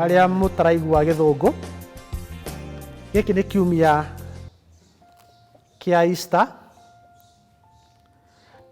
arĩa mũtaraigua gĩthũngũ gĩkĩ nĩ kiumia kĩa Easter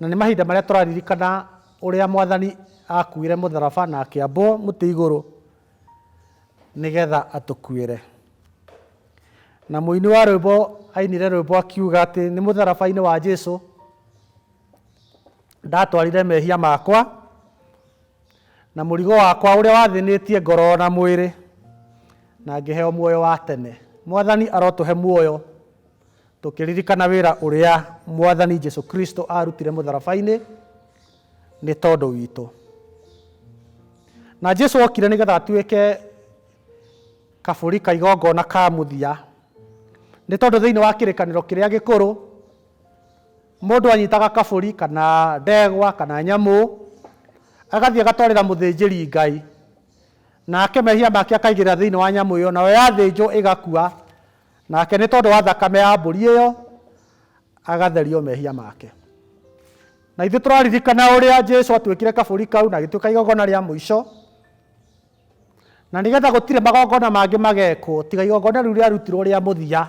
na nĩ mahinda marĩa tũraririkana ũrĩa mwathani akuire mũtharaba na akĩambwo mũtĩ igũrũ nĩgetha atũkuĩre. Na mũini wa rwĩmbo ainire rwĩmbo akiuga atĩ nĩ mũtharaba-inĩ wa Jesu ndatwarire mehia makwa na mũrigo wakwa ũrĩa wathĩnĩtie ngoro na mwĩrĩ na ngĩheo muoyo wa tene. Mwathani arotũhe muoyo tũkĩririkana wĩra ũrĩa Mwathani Jesu Kristo arutire mũtharaba-inĩ nĩ tondũ witũ. Na Jesu okire nĩgetha atuĩke Kabũri ka igongona ka mũthia. Nĩ tondũ thĩinĩ wa kĩrĩkanĩro kĩrĩa gĩkũrũ, mũndũ anyitaga kabũri kana ndegwa kana nyamũ, agathiĩ agatwarĩra mũthĩnjĩri Ngai, nake mehia make akaigĩrĩra thĩinĩ wa nyamũ ĩyo, nayo yathĩnjwo ĩgakua, nake nĩ tondũ wa thakame ya mbũri ĩyo, agatherio mehia make. Na ithuĩ tũraririkana ũrĩa Jesu atuĩkire kabũri kau na agĩtuĩka igongona rĩa mũico. Na nĩ getha gũtirĩ magongona mangĩ magekwo tiga igongona rĩu rĩarutirwo rĩa mũthia,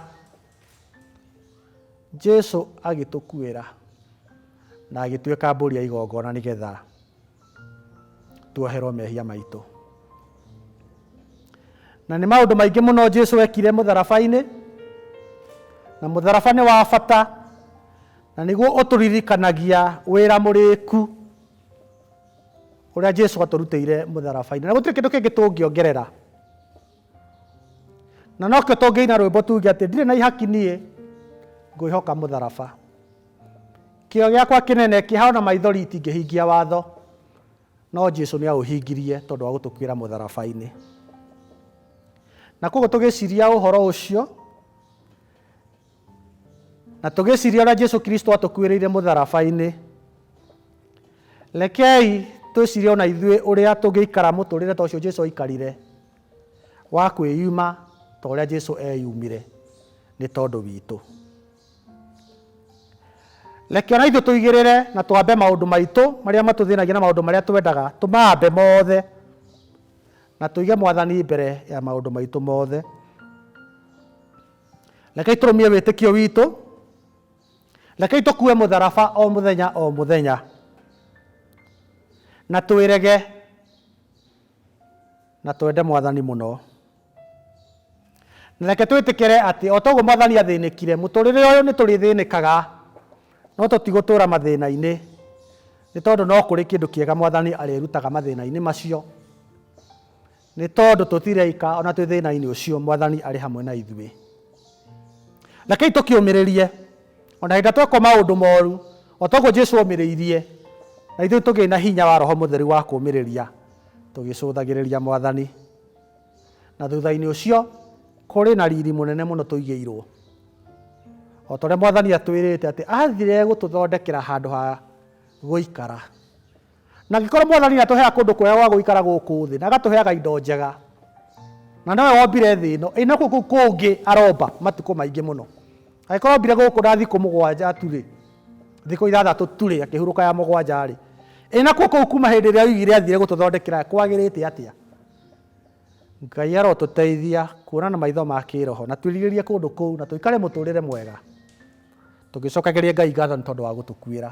Jesu agĩtũkuĩra na agĩtuĩka mbũri ya igongona nĩ getha tuoherwo mehia maitũ. Na nĩ maũndũ maingĩ mũno Jesu ekire mũtharaba-inĩ, na mũtharaba nĩ wa bata na nĩguo ũtũririkanagia wĩra mũrĩku ũrĩa Jesu atũrutĩire mũtharaba-inĩ. Na gũtirĩ kĩndũ kĩngĩ tũngĩongerera. Na nokĩo tũngĩina rwĩmbo tuge atĩ ndirĩ na ihaki niĩ ngwĩhoka mũtharaba. Kĩo gĩakwa kĩnene kĩhana maithori itingĩhingia watho, no Jesu nĩ aũhingirie tondũ wa gũtũkuĩra mũtharaba-inĩ. Na koguo tũgĩciria ũhoro ũcio, Na tũgĩciria ũrĩa Jesu Kristo atũkuĩrĩire mũtharaba-inĩ, rekei twĩcirie ona ithuĩ ũrĩa tũngĩikara mũtũrĩre ta ũcio Jesu aikarire wa kwĩyuma ta ũrĩa Jesu eyumire nĩ tondũ witũ. Reke ona ithuĩ tũigĩrĩre na twambe maũndũ maitũ marĩa matũthĩnagia na maũndũ marĩa twendaga tũmambe mothe na tũige mwathani mbere ya maũndũ maitũ mothe. Rekei tũrũmie wĩtĩkio witũ. Rekei tũkue mũtharaba o mũthenya o mũthenya. Na twĩrege na twende mwathani mũno. Na reke twĩtĩkĩre atĩ o toguo mwathani athĩnĩkire, mũtũrĩre ũyũ nĩ tũrĩthĩnĩkaga no tũtigũtũra mathĩna-inĩ nĩ tondũ no kũrĩ kĩndũ kĩega mwathani arĩrutaga mathĩna-inĩ macio. Nĩ tondũ tũtirĩ aika o na twĩ thĩna-inĩ ũcio, Mwathani arĩ hamwe na ithuĩ. Rekei tũkĩũmĩrĩrie, o na hĩndĩ ĩrĩa twekwo maũndũ moru, o ta ũguo Jesu omĩrĩirie, na ithuĩ tũgĩe na hinya wa Roho Mũtheru wa kũũmĩrĩria, tũgĩcũthagĩrĩria Mwathani. Na thutha-inĩ ũcio, kũrĩ na riri mũnene mũno tũigĩirwo. O ta ũrĩa Mwathani atwĩrĩte atĩ athire gũtũthondekera handũ ha gũikara. Na angĩkorwo Mwathani nĩ atũheaga kũndũ kwega gwa gũikara gũkũ thĩ na agatũheaga indo njega, na nowe wombire thĩ ĩno, ĩ nakuo kũu kũngĩ aromba matukũ maingĩ mũno. Angĩkorwo ombire gũkũ na thikũ mũgwanja tu-rĩ, thikũ ithathatũ tu-rĩ, akĩhurũka ya mũgwanja-rĩ, ĩ nakuo kũu kuma hĩndĩ ĩrĩa oigire athire gũtũthondekera kwagĩrĩte atĩa? Ngai arotũteithia kuona na maitho ma kĩĩroho na twĩrirĩrie kũndũ kũu na tũikare mũtũrĩre mwega tũgĩcokagĩria Ngai ngatho nĩ tondũ wa gũtũkuĩra.